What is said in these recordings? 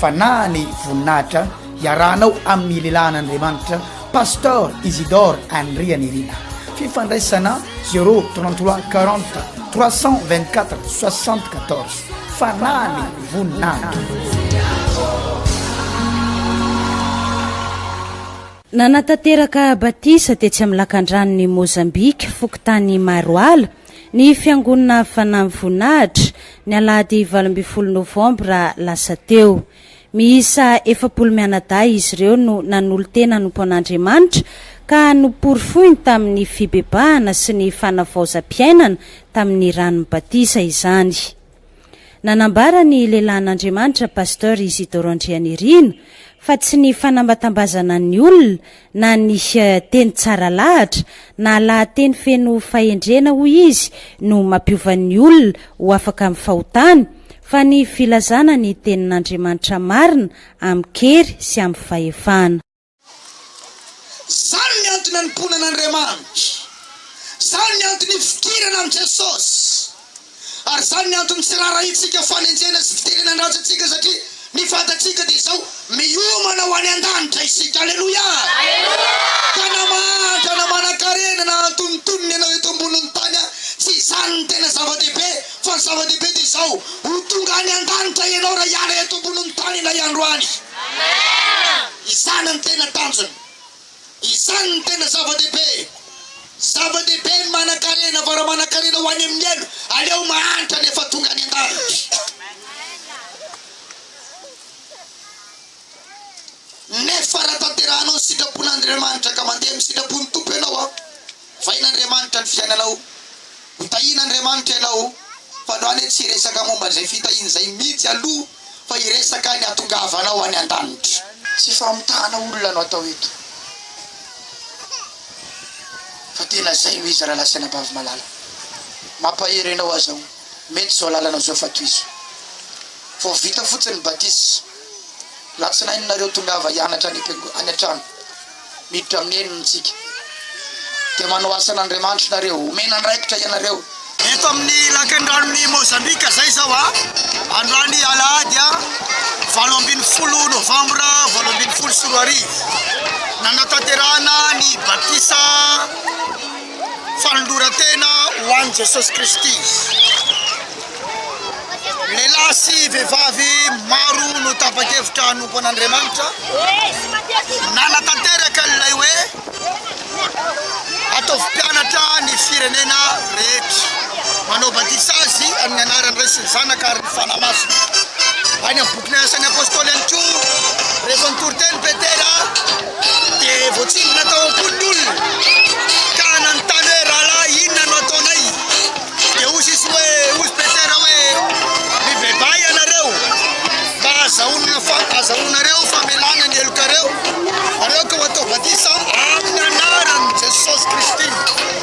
fa na ny voninahitra hiarahanao amin'ny lehilahin'Andriamanitra Pasteur Isidore Andrianirina fifandraisana 033 40 324 74 fa na ny voninahitra Nanatanteraka batisa tetsy amin'ny lakandranon'i Mozambika, fokontany Maroala, Ny Fiangonana Fanahy Voninahitra, ny alahady valo ambin'ny folo novambra lasa teo. Miisa efapolo mianadahy izy ireo no nanolo-tena hanompo an'Andriamanitra ka noporofoiny tamin'ny fibebahana sy ny fanavaozam-piainana tamin'ny ranon'ny batisa izany. Nanambara ny lehilahin'Andriamanitra Pasteur Isidoro Andrianirina fa tsy ny fanambatambazana ny olona na ny teny tsara lahatra na lahateny feno fahendrena hoy izy no mampiova ny olona ho afaka amin'ny fahotany fa ny filazana ny tenin'Andriamanitra marina amin-kery sy amin'ny fahefana. Izany ny antony anompoana an'Andriamanitra. Izany ny antony ifikirana amin'i Jesosy. Ary izany ny antony tsy raharahintsika fanenjehana sy fiterena an-dratsy antsika satria ny fantatsika dia izao, miomana ho any an-danitra isika. Aleloia! Ka na mahantra na manan-karena na antonontonony ianao eto ambonin'ny tany, tsy izany no tena zava-dehibe, fa ny zava-dehibe dia izao, ho tonga any an-danitra ianao raha hiala eto ambonin'ny tany ilay andro any. Izany no tena tanjona. Izany no tena zava-dehibe. Zava-dehibe ny manan-karena fa raha manan-karena ho any amin'ny helo, aleo mahantra ny efa tonga any an-danitra. Nefa raha tanterahanao ny sitrapon'Andriamanitra ka mandeha amin'ny sitrapon'ny Tompo ianao, Vahin'Andriamanitra ny fiainanao. Ho tahin'Andriamanitra ianao. Fa androany hoe tsy hiresaka momba izay fitahiana izay mihitsy aloha fa hiresaka ny hatongavanao any an-danitra. Tsy famitahana olona no atao eto fa dia lazainao izy rahalahy sy anabavy malala. Mampahery anao aza aho. Mety izao lalanao izao fa tohizo. Vao vita fotsiny ny batisa. Latsinainy nareo tongava hianatra any an-trano. miditra amin'ny henony tsika dia manao asan' Andriamanitry nareo, omena andraikitra ianareo. Eto amin'ny lakandranon'i Mozambika zay zao a, androany alahady a, valo ambin'ny folo novambra valo ambin'ny folo sy roa arivo, nanatanterahana ny batisa, Fanoloran-tena ho an'i Jesosy Kristy. Lehilahy sy vehivavy maro no tapa-kevitra hanompo an'Andriamanitra. Nanatanteraka an'ilay hoe ataovy mpianatra ny firenena rehetra. Manao batisa azy amin'ny anaran'ny Ray sy ny Zanaka ary ny Fanahy Masina. Any amin'ny bokin'ny Asan'ny Apôstôly ihany koa, rehefa nitory teny Petera, Dia voatsindrona tao am-pony ny olona ka nanontany hoe, Rahalahy, inona no ataonay? Dia hoy Jesoa hoe, Hoy i Petera hoe, Mibebaha ianareo mba hahazahoanareo famelana ny helokareo, ary aoka ho atao batisa amin'ny anaran'i Jesosy Kristy.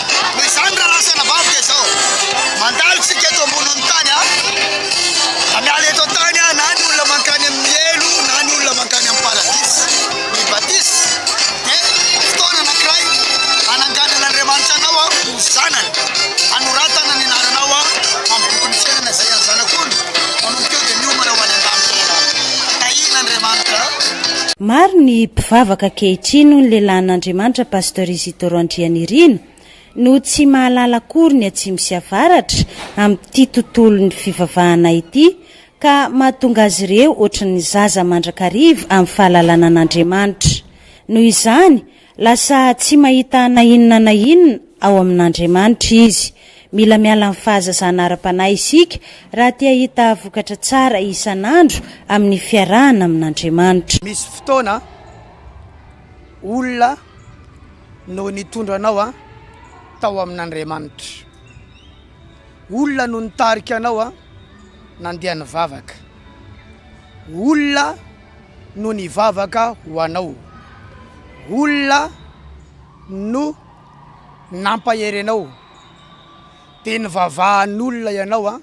Noho izany raha lasa navavaka izao, mandalo isika eto ambonin'ny tany a. Na miala eto an-tany a, na ny olona mankany amin'ny helo, na ny olona mankany amin'ny paradisa. Ny batisa dia fotoana anankiray hananganan'Andriamanitra anao a, ho zanany, hanoratana ny anaranao a amin'ny bokin'ny fiainana izay an'ny Zanak'ondry. Manomboka eo dia miomana ho any an-danitra ianao. Tahian'Andriamanitra. Maro ny mpivavaka ankehitriny, hoy ny lehilahin'Andriamanitra, Pasteur Doctor Randrianirina no tsy mahalala akory ny atsimo sy avaratra amin'ity tontolon'ny fivavahana ity ka mahatonga azy ireo ohatry ny zaza mandrakariva amin'ny fahalalana an'Andriamanitra. Noho izany, lasa tsy mahita na inona na inona ao amin'Andriamanitra izy. Mila miala amin'ny fahazazana ara-panahy isika raha te hahita vokatra tsara isan'andro amin'ny fiarahana amin'Andriamanitra. Misy fotoana. olona no nitondra anao tao amin'Andriamanitra. Olona no nitarika anao nandeha nivavaka. Olona no nivavaka ho anao. Olona no nampahery anao. Dia nivavahan'olona ianao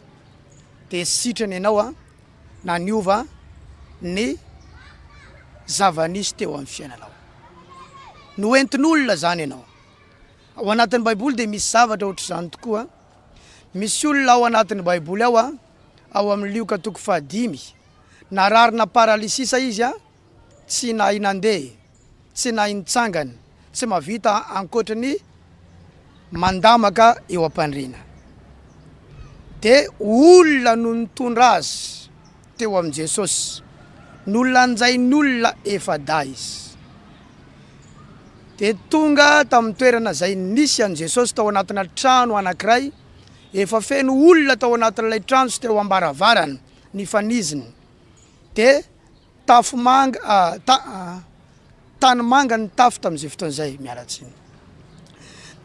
dia sitrana ianao. na niova ny zava-nisy teo amin'ny fiainanao. Noentin'olona izany ianao. Ao anatin'ny Baiboly dia misy zavatra ohatr'izany tokoa. Misy olona ao anatin'ny Baiboly ao, ao amin'ny Lioka toko fahadimy, nararina paralysisa izy, tsy nahay nandeha. Tsy nahay nitsangana, tsy mahavita ankoatry ny mandamaka eo am-pandriana. Dia olona no nitondra azy teo amin'i Jesosy. Nolanjain'olona efa-dahy izy. Dia tonga tamin'ny toerana izay nisy an'i Jesosy tao anatina trano anankiray, efa feno olona tao anatin'ilay trano sy teo am-baravarana nifanizina. Dia Tafo manga ah ta ah tany manga ny tafo tamin'izay fotoana izay, miala tsiny.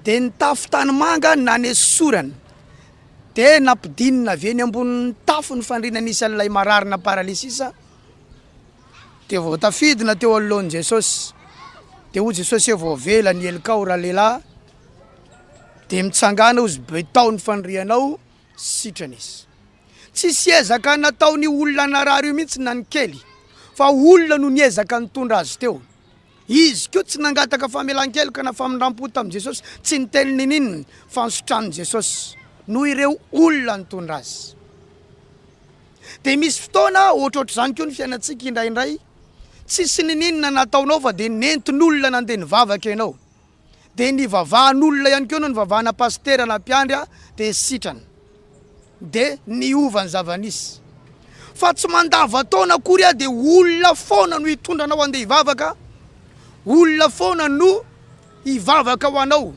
Dia ny tafo tany manga nanesorana, dia nampidinina avy eny ambonin'ny tafo ny fandriana nisy an'ilay mararina paralysis, dia vao tafidina teo anoloan'i Jesosy, dia hoy Jesosy hoe vao avela ny helokao ralehilahy, dia mitsangana hozy betaho ny fandrianao, sitrana izy. Tsisy ezaka nataon'io olona narary io mihitsy na ny kely fa olona no niezaka nitondra azy teo. Izy koa tsy nangataka famelan-keloka na famindram-po tamin'i Jesosy, tsy niteny n'ininona fa nisotrany Jesosy noho ireo olona nitondra azy. Dia misy fotoana ohatrohatr'izany koa ny fiainantsika indraindray, tsisy n'ininona nataonao fa dia nentin'olona nandeha nivavaka ianao. dia nivavahan'olona ihany koa no nivavahana pasitera na mpiandry dia sitrana dia niova ny zava-nisy fa tsy mandavan-taona akory aho dia olona foana no hitondra anao andeha hivavaka olona foana no hivavaka ho anao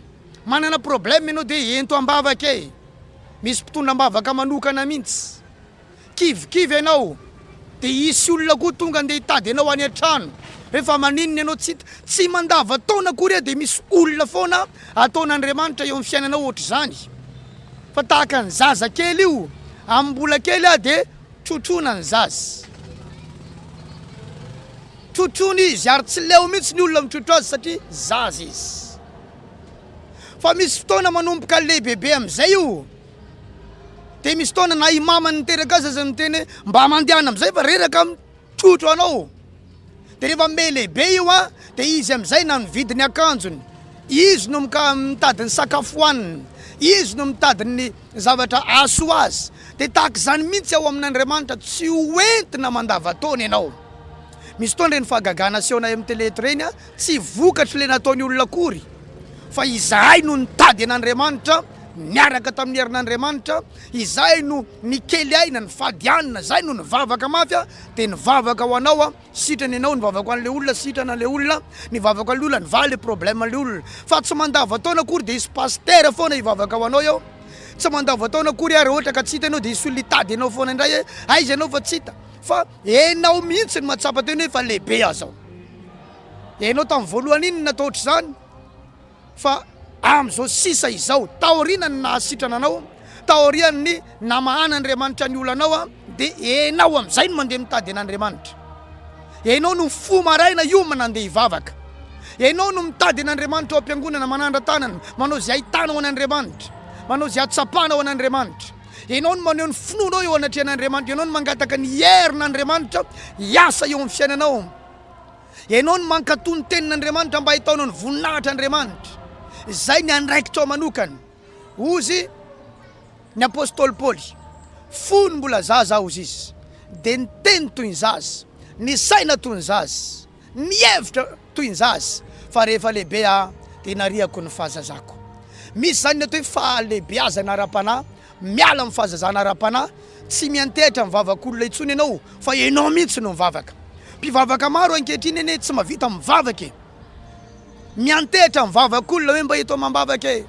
manana problème ianao dia ento am-bavaka e misy mpitondra am-bavaka manokana mihitsy kivikivy ianao dia hisy olona koa tonga ndeha hitady ianao any an-trano, rehefa maninona ianao tsy hita, tsy mandavan-taona akory aho dia misy olona foana ataon'Andriamanitra eo amin'ny fiainanao ohatr'izany, fa tahaka ny zaza kely io, amin'ny mbola kely aho dia trotroina ny zaza, trotroina izy ary tsy leo mihitsy ny olona mitrotro azy satria zaza izy, fa misy fotoana manomboka lehibebe amin'izay io. Dia misy fotoana na i mamany niteraka azy aza miteny hoe mba mandehana amin'izay fa reraka amin'ny trotro anao. Dia rehefa miha lehibe io an, dia izy amin'izay na mividy ny akanjony, izy no mika- mitady ny sakafo hohaniny, izy no mitady ny zavatra hahasoa azy. Dia tahaka izany mihitsy ao amin'Andriamanitra, tsy ho entina mandavan-taona ianao. Misy fotoana ireny fahagagana asehonay amin'ny tele eto ireny an, tsy vokatr'ilay nataon'ny olona akory fa izahay no nitady an'Andriamanitra, niaraka tamin'ny herin'Andriamanitra, izay no nikely aina, nifady hanina, izay no nivavaka mafy a, dia nivavaka ho anao a, sitrana ianao, nivavaka ho an'ilay olona, sitrana ilay olona, nivavaka an'ilay olona, nivaha ilay problème an'ilay olona. Fa tsy mandavan-taona akory dia hisy pasitera foana hivavaka ho anao eo, tsy mandavan-taona akory ary ohatra ka tsy hita ianao dia hisy olona hitady anao foana indray hoe aiza ianao fa tsy hita, fa ianao mihitsy no mahatsapa tena hoe efa lehibe aho izao. Ianao tamin'ny voalohany iny natao ohatr'izany. Fa amin'izao sisa izao, taorianan'ny nahasitrana anao, taorian'ny namahan'Andriamanitra ny olanao, dia ianao amin'izay no mandeha mitady an'Andriamanitra. Ianao no mifoha maraina hiomana handeha hivavaka. Ianao no mitady an'Andriamanitra ao am-piangonana, manandra-tanana, manao izay ahitanao an'Andriamanitra, manao izay ahatsapanao an'Andriamanitra. Ianao no maneho ny finoanao eo anatrehan'Andriamanitra, ianao no mangataka ny herin'Andriamanitra hiasa eo amin'ny fiainanao. Ianao no mankatò ny Tenin'Andriamanitra mba hitaona ny voninahitr' Andriamanitra. Izay ny andraikitrao manokana. Hozy ny apostoly Paoly, Fony mbola zaza aho, hozy izy, dia niteny toy ny zaza, nisaina toy ny zaza, nihevitra toy ny zaza, fa rehefa lehibe aho dia nariako ny fahazazako. Misy izany ny atao hoe fahalehibeazana ara-panahy. Miala amin'ny fahazazana ara-panahy, tsy miantehitra amin'ny vavak'olona intsony ianao fa ianao mihitsy no mivavaka. Mpivavaka maro ankehitriny anie tsy mahavita mivavaka e! Miantehitra amin'ny vavak'olona hoe mba eto amam-bavaka e!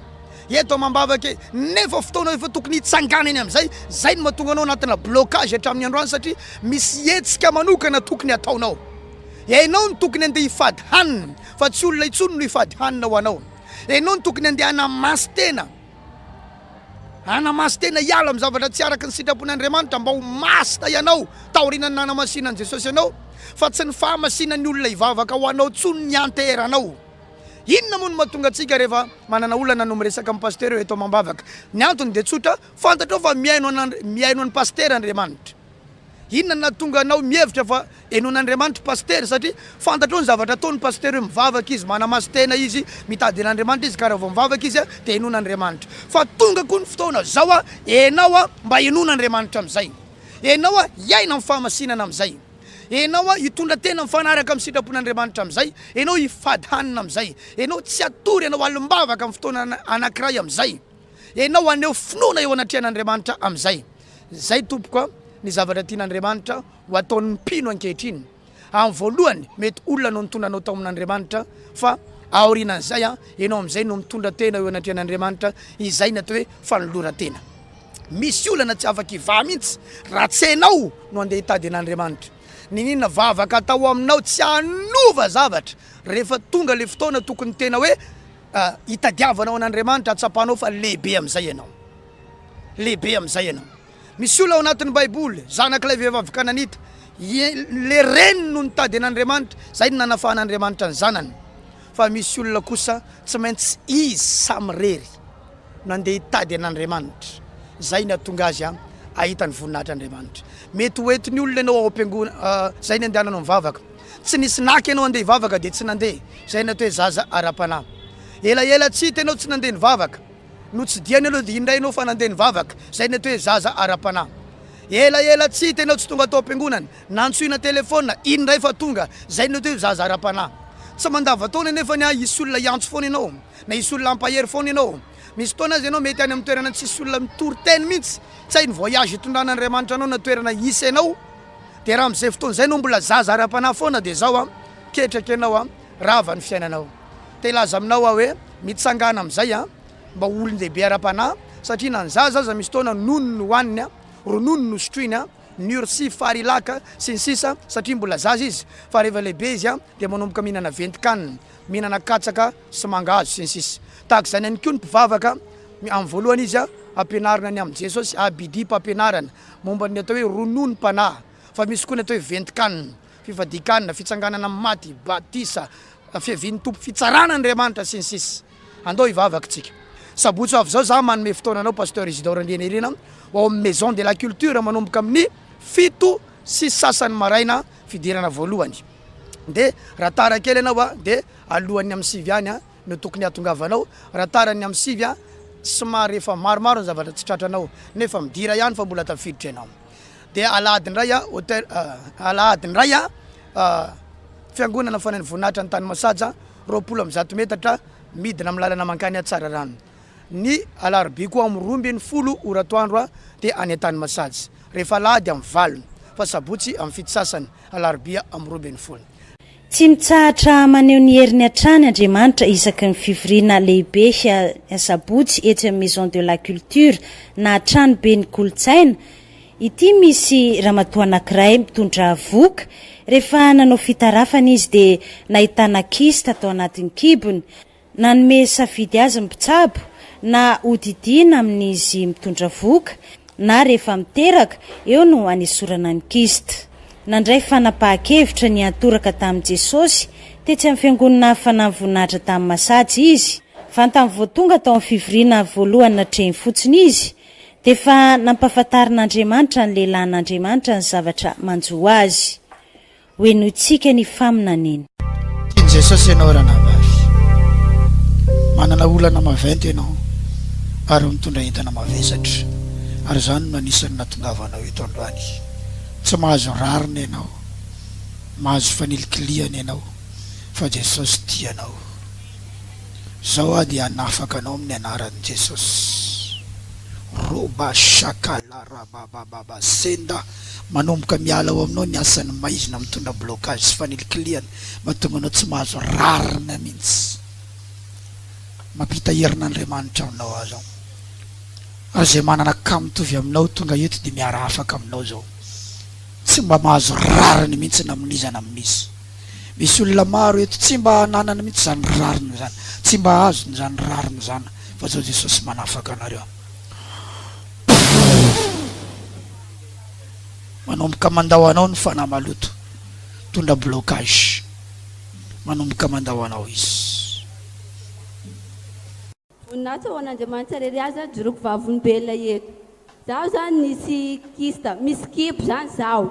Eto amam-bavaka e! Nefa fotoana efa tokony hitsanganany amin'izay, izay no mahatonga anao anatina blocage hatramin'ny androany satria misy hetsika manokana tokony hataonao. Ianao no tokony handeha hifady hanina fa tsy olona intsony no hifady hanina ho anao. Ianao no tokony handeha hanamasy tena. Hanamaso tena hiala amin'ny zavatra tsy araka ny sitrapon'Andriamanitra mba ho masina ianao taorian'ny nanamasinan'i Jesosy anao fa tsy ny fahamasinan'ny olona hivavaka ho anao intsony ny ianteheranao. Inona moa no mahatonga antsika rehefa manana olana no miresaka amin'ny pasitera eo eto amam-bavaka? Ny antony dia tsotra, fantatrao fa mihaino an'i mihaino an'i pasitera Andriamanitra. Inona no nahatonga anao mihevitra fa henoin'Andriamanitra i Pasitera? Satria fantatrao ny zavatra ataony Pasitera hoe mivavaka izy, manamaso tena izy, mitady an'Andriamanitra izy ka raha vao mivavaka izy dia henoin'Andriamanitra. Fa tonga koa ny fotoana zao a, enao a mba henoin'Andriamanitra amin'izay. Enao a hiaina amin'ny fahamasinana amin'izay. Enao a hitondra tena mifanaraka amin'ny sitrapon'Andriamanitra amin'izay. Enao hifady hanina amin'izay. Enao tsy hatory, enao alim-bavaka amin'ny fotoana anakiray amin'izay. Ianao haneho finoana eo anatrehan'Andriamanitra amin'izay. Izay, tompoko a, ny zavatra tian'Andriamanitra ho ataon'ny mpino ankehitriny. Amin'ny voalohany, mety olona no nitondra anao tao amin'Andriamanitra, fa aorianan'izay, ianao amin'izay no mitondra tena eo anatrehan'Andriamanitra, izay ny atao hoe fanoloran-tena. Misy olana tsy afa-kivaha mihitsy raha tsy ianao no handeha hitady an'Andriamanitra. Niniana vavaka hatao aminao tsy hanova zavatra rehefa tonga ilay fotoana tokony tena hoe Ka itadiavanao an'Andriamanitra hatsapanao fa lehibe amin'izay ianao. Lehibe amin'izay ianao. Misy olona ao anatin'ny Baiboly, zanak'ilay vehivavy kananita, ilay reniny no nitady an'Andriamanitra, izay no nanafahan'Andriamanitra ny zanany. Fa misy olona kosa tsy maintsy izy samirery no handeha hitady an'Andriamanitra, izay no hahatonga azy hahita ny voninahitr'Andriamanitra. Mety ho entin'ny olona ianao ao am-piangonana, izay no andehananao mivavaka. tsy nisy naka ianao handeha hivavaka dia tsy nandeha, izay ny atao hoe zaza ara-panahy. Elaela tsy hita ianao tsy nandeha nivavaka, notsidihany aloha dia indray ianao fa nandeha nivavaka, izay ny atao hoe zaza ara-panahy. Elaela tsy hita ianao tsy tonga tao am-piangonana, nantsoina telefaonina, indray fa tonga, izay ny atao hoe zaza ara-panahy. Tsy mandavantaona anefa ny ahy hisy olona hiantso foana ianao, na hisy olona hampahery foana ianao. Misy fotoana aza ianao mety any amin'ny toerana tsy hisy olona mitory teny mihitsy, tsy hay ny voyage hitondrana Andriamanitra anao na toerana hisy ianao, de raha amzay fotoana zay no mbola zaza ara-panahy foana de zao an ketraka ianao an rava ny fiainanao te hilaza aminao aho hoe mitsangana amzay an mba ho olon-dehibe ara-panahy satria na ny zaza aza misy fotoana nono no hoaniny an ronono no sotroiny an nursi farilaka sy ny sisa satria mbola zaza izy fa rehefa lehibe izy an de manomboka mihinana ventin-kanina mihinana katsaka sy mangahazo sy ny sisa tahaka izany ihany koa ny mpivavaka amin'ny voalohany izy an ampianarina ny amin'i Jesosy ABD mpampianarana Momba ny atao hoe rononom-panahy, fa misy koa ny atao hoe ventin-kanina, fifadian-kanina, fitsanganana amin'ny maty, batisa, fiavian'ny Tompo, fitsarana Andriamanitra, sy ny sisa Andao hivavaka isika. Sabotsy ho avy izao izaho manome fotoana anao Pasteur Isidore Andrianirina ho ao amin'ny Maison de la Culture manomboka amin'ny fito sy sasany maraina fidirana voalohany. Dia raha tara kely ianao dia alohan'ny amin'ny sivy ihany no tokony hahatongavanao raha tara ny amin'ny sivy an! somary efa maromaro ny zavatra tsy tratranao nefa midira ihany fa mbola tafiditra ianao dia alahady indray an! hotel alahady indray an! fiangonana fanain'ny voninahitra ny tany masaja roapolo amby zato metatra midina amin'ny lalana mankany Tsararano ny alarobia koa amin'ny roa ambin'ny folo ora atoandro an! dia any an-tany masaja rehefa alahady amin'ny valo fa sabotsy amin'ny fito sasany alarobia amin'ny roa ambin'ny folo Tsy mitsahatra maneho ny heriny hatrany Andriamanitra isaky ny fivoriana lehibe Sabotsy etsy amin'ny Maison de la Culture na Tranoben'ny Kolontsaina. Ity misy ramatoa anankiray mitondra vohoka, rehefa nanao fitarafana izy dia nahitana kista tao anatin'ny kibony. Nanome safidy azy ny mpitsabo na hodidiana amin'izy mitondra vohoka na rehefa miteraka, eo no hanesorana ny kyste. Nandray fanapahan-kevitra ny hiantoraka tamin'i Jesosy tetsy amin'ny Fiangonana Hafanan'ny Voninahitra tany Masaja izy. Vantany vao tonga tao amin'ny fivoriana voalohany natrehiny fotsiny izy, dia efa nampahafantarin'Andriamanitra ny lehilahin'Andriamanitra ny zavatra manjo azy. Ho henointsika ny faminaniany. Tian'i Jesosy ianao ranabavy. Manana olana maventy ianao ary mitondra entana mavesatra ary izany no anisan'ny nahatongavanao eto androany. Tsy mahazo rariny ianao, mahazo fanilikilihana ianao fa Jesosy tia anao. Izao aho dia hanafaka anao amin'ny anaran'i Jesosy. Roba shaka la rababababa senda Manomboka miala ao aminao ny asan'ny maizina mitondra blocage sy fanilikilihana mahatonga anao tsy mahazo rarina mihitsy. Mampita herin'Andriamanitra aminao aho zao. Ary izay manana cas mitovy aminao tonga eto dia miara afaka aminao zao. Tsy mba mahazo rariny mihitsy na amin'iza na amin'iza. Misy olona maro eto tsy mba ananany mihitsy izany rariny izany, tsy mba azony izany rariny izany fa zao Jesosy manafaka anareo. Manomboka mandao anao ny fanahy maloto, mitondra blocage. Manomboka mandao anao izy. Voninahitra ho an'Andriamanitra irery aza ny jiroko vavolombelona eto. Zaho zany nisy kista, misy kibo zany zaho.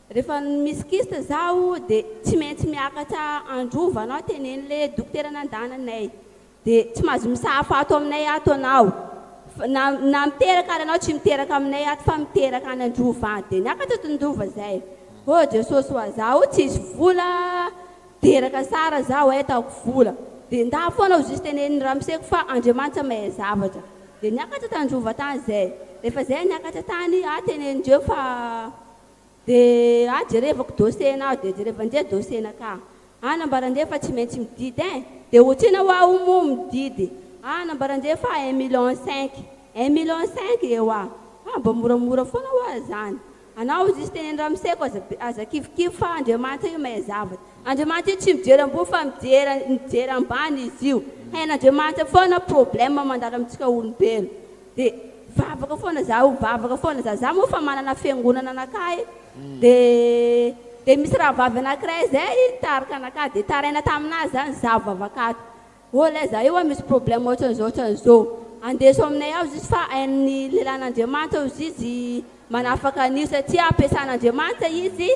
Rehefa misy kyste zaho de tsy maintsy miakatra androva anao tenenle dokotera nandana anay de tsy mazo misahafa ato aminay ato anao fa na na miteraka ary anao tsy miteraka aminay ato fa miteraka any androva any de niakatra ato ndrova zay oh jesosy oa zaho tsisy vola teraka sara zaho ay ataoko vola de ndà foana aho juste teneniny ramoseko fa andriamanitra mahay zavatra de niakatra tandrova tany zay rehefa zay niakatra tany ah tenenindreo fa Dia aho jerevako dossier-na aho dia jereva an'izay dossier-na ka. Aho nambara an'izay fa tsy maintsy mididy eh! Dia otrina hoa aho moa mididy. Aho nambara an'izay fa un million cinq. Un million cinq eh hoa! Fa mba moramora foana hoa izany. Anao hozy sy teneno ramoseko aza aza kivikivy fa Andriamanitra io mahay zavatra. Andriamanitra io tsy mijery ambony fa mijery mijery ambany izy io. Hain'Andriamanitra foana problème mandalo amintsika olombelo. de vavaka foana zaho vavaka foana za za moa fa manana fiangonana anakahy de de misy rahavavy anakiray zay nitarika anakahy de taraina taminazy zany za vavaka ato ô lay za io a misy problème otran'zao otran'zao andeso aminay ao zisy fa ain'ny lelan'Andriamanitra ao zisy Manafaka an'io satria ampiasan'Andriamanitra izy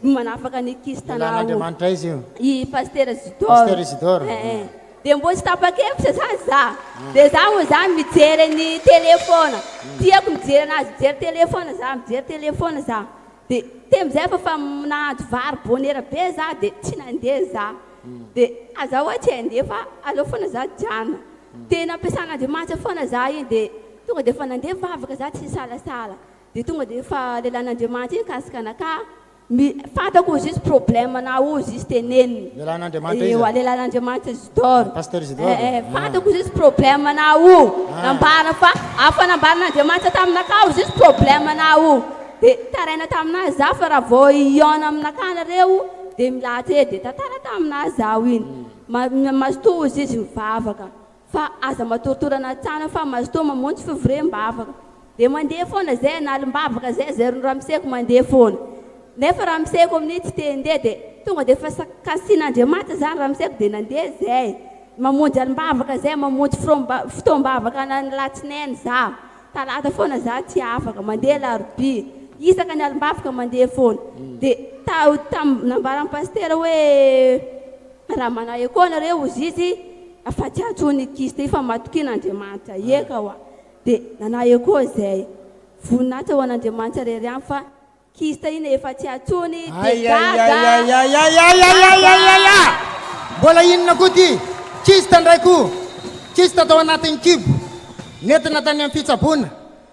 no manafaka ny kista na ho. Ilàn'Andriamanitra izy io. I Pasitera Isidore. Pasitera Isidore. Eh eh. Dia mbola tsy tapa-kevitra izany za. Dia za moa izany mijery an'i tele foana. Tiako mijery anazy mijery tele foana za, mijery tele foana za. Dia teo amin'izay efa fa nahandro vary bonera be za dia tsy nandeha za. Dia aza ho'a tsy handeha fa aleo foana za jano. Tena ampiasan'Andriamanitra foana za iny dia. Tonga dia efa nandeha vavaka za tsy nisalasala dia tonga dia efa lelan'Andriamanitra iny kasika anaka mi fantako ozy izy problème na ozy izy teneniny Lelan'Andriamanitra iza? ewa lelan'Andriamanitra Isidore Pasteur Isidore eh eh fantako ozy izy problème na o nambara fa afa nambaran'Andriamanitra taminaka ozy izy problème na o dia taraina taminazy za fa raha vao hihaona aminaka nareo dia milahatra eo dia tantara taminazy zaho iny ma mazotoa ozy izy mivavaka Fa aza matortora anatsana fa mazotoa mamonjy fivorem bavaka de mandeha foana zay analim bavaka zay zay ry ramseko mandeha foana nefa ramseko aminio tsy te ndeha de tonga de fa kasin andriamanitra zany ramseko de nandeha zay mamonjy alim bavaka zay mamonjy fotoam bavaka anany latsinainy za talata foana za tsy afaka mandeha alarobia isaka ny alim bavaka mandeha foana de ta tam nambaran pasitera hoe raha manahy akoa nareo ozizy Afa-tsy aho John Kist efa matokian' Andriamanitra eka hoa dia nanahy koa izay voninahitra ho an' Andriamanitra irery ihany fa Kist iny efa tsy atsony dia gaga! Mbola inona koa ity Kist ndray koa? Kist tao anatin'ny kibo nentina tany amin'ny fitsaboana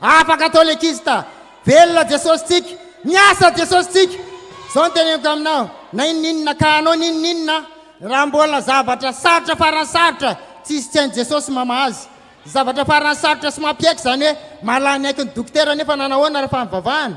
Afaka atao le kista. Velona Jesosy tsika. Miasa Jesosy tsika. Zao ny teneniko aminao. Na inon'inona ka anao ny inon'inona. Raha mbola zavatra sarotra farany sarotra tsisy tsy hain'i Jesosy mamaha azy. Zavatra farany sarotra sy mampiaiky zany hoe mahalany aiky ny dokotera nefa nanahoana raha fa nivavahana.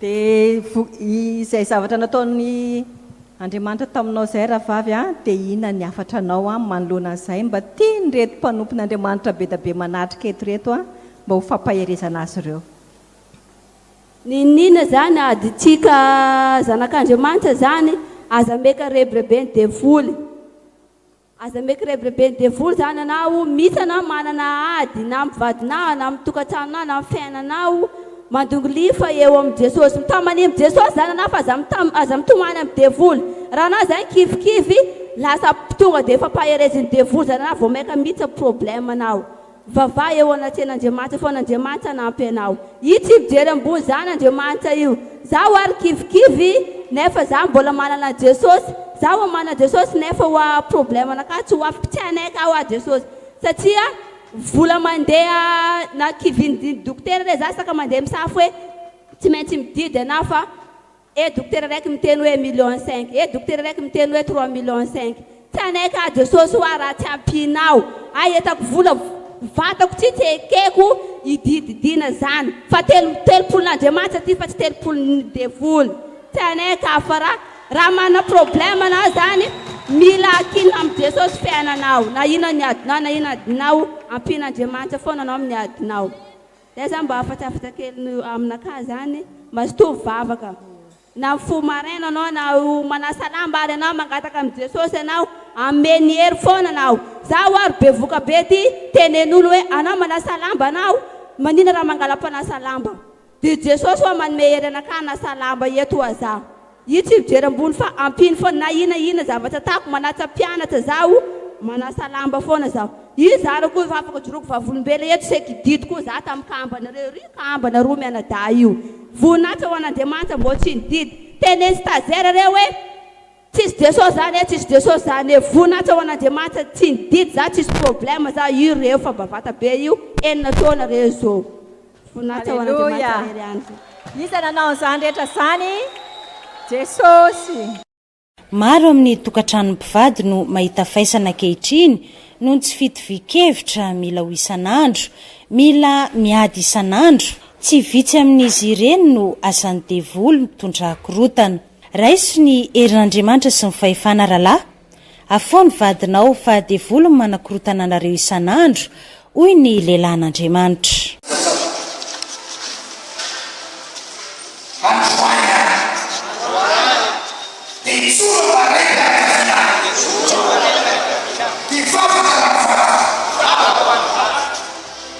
Dia izay zavatra nataon' Andriamanitra taminao izay rahavavy a, dia inona ny hafatra anao a manoloana an'izay? Mba tian' reto mpanompon' Andriamanitra be da be manatrika eto reto a, mba ho fampaherezana azy ireo. Niniana zany adintsika zanak'Andriamanitra zany aza meka rebirebeny devoly. Aza maiky rebireben'ny devoly zany anao mitsy anao manana ady na am vadinao na am tokatranonao na am fiainanao mandongo lifa eo am jesosy mitamania am jesosy zany anao fa aza mitam aza mitomany am devoly raha anao zany kivikivy lasa tonga de efa pahereziny devoly zany anao vao maika mitsy am problème nao Vavaha eo anatrehan' Andriamanitra foana Andriamanitra hanampy anao. Io tsy mijery ambony zan Andriamanitra io. Zaho ary kivikivy nefa za mbola manana Jesosy. Zaho oa manana Jesosy nefa oa problème anakahy tsy ho afaka tsy hanaiky aho oa Jesosy satria vola mandeha na kivin'ny dokotera re za saka mandeha misafo hoe tsy maintsy mididy anah fa Eh dokotera raiky miteny hoe million cinq eh dokotera raiky miteny hoe trois million cinq tsy hanaiky ahy Jesosy hoa raha tsy ampianao ahy entako vola vatako tsy tsy ekeko idididiana zany fa telo telopolon'Andriamanitra ty fa tsy telopolon'ny devoly tsy hanaiky ahy fa raha raha manana problème anao zany mila akinina amin'i Jesosy fiainanao na inona ny adinao na inona adinao ampian'Andriamanitra foana anao amin'ny adinao. Zay zany mba afatsafatra kely aminakahy zany mazotoa mivavaka na mifoha maraina anao na manasa lamba ary anao mangataka am Jesosy anao ameny hery foana anao zaho ary bevoka be ty tenenolo hoe anao manasa lamba anao manina raha mangala mpanasa lamba de Jesosy hoa manome hery anakahy hanasa lamba eto hoa za Io tsy mijery ambony fa ampino foana na ina ina zavatra atako, manatsa mpianatra zaho, manasa lamba foana zaho. Io za reo koa efa afaka joroako vavolombelona eto c'est que didy koa za tam kambana reo ry kambana roa mianadahy io. Voninahitra ho an'Andriamanitra mbô tsy nididy. Teneno stagiaire reo hoe tsisy Jesosy zany e, tsisy Jesosy zany e. Voninahitra ho an'Andriamanitra tsy nididy za tsisy problème za io reo fa mba vata be io, enina taona reo zô. Voninahitra ho an'Andriamanitra irery andro. Iza nanao an'izany rehetra izany? Jesosy. Maro amin'ny tokantranon' ny mpivady no mahita faisana ankehitriny noho ny tsy fitovian-kevitra, mila ho isan'andro, mila miady isan'andro. Tsy vitsy amin'izy ireny no asan'ny devoly mitondra korontana. Raiso ny herin' Andriamanitra sy ny fahefana rahalahy. Afao ny vadinao fa devoly ny manakorotana anareo isan'andro, hoy ny lehilahin'Andriamanitra.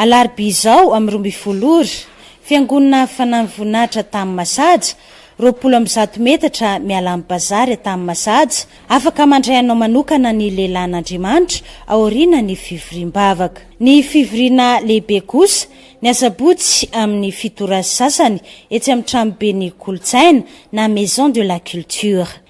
Alarobia izao amin'ny roa ambin'ny folo ora, Fiangonana Fanahiny Voninahitra Tamin'ny Masaja, Roapolo amby zato metatra miala amin'ny bazary tany Masaja, afaka mandray anao manokana ny lehilahin'Andriamanitra aoriana ny fivoriam-bavaka. Ny fivoriana lehibe kosa, ny asabotsy amin'ny fito ora sy sasany, etsy amin'ny tranoben'ny kolontsaina na Maison de la culture.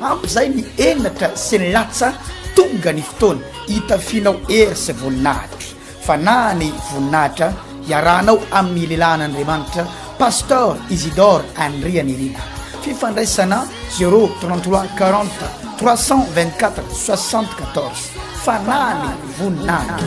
Ampy izay ny henatra sy ny latsa tonga ny fotoana hitafianao hery sy voninahitra fa na ny voninahitra hiarahanao amin'ny lelan'Andriamanitra Pasteur Isidore Andrianirina fifandraisana 033 40 324 74 fa na ny voninahitra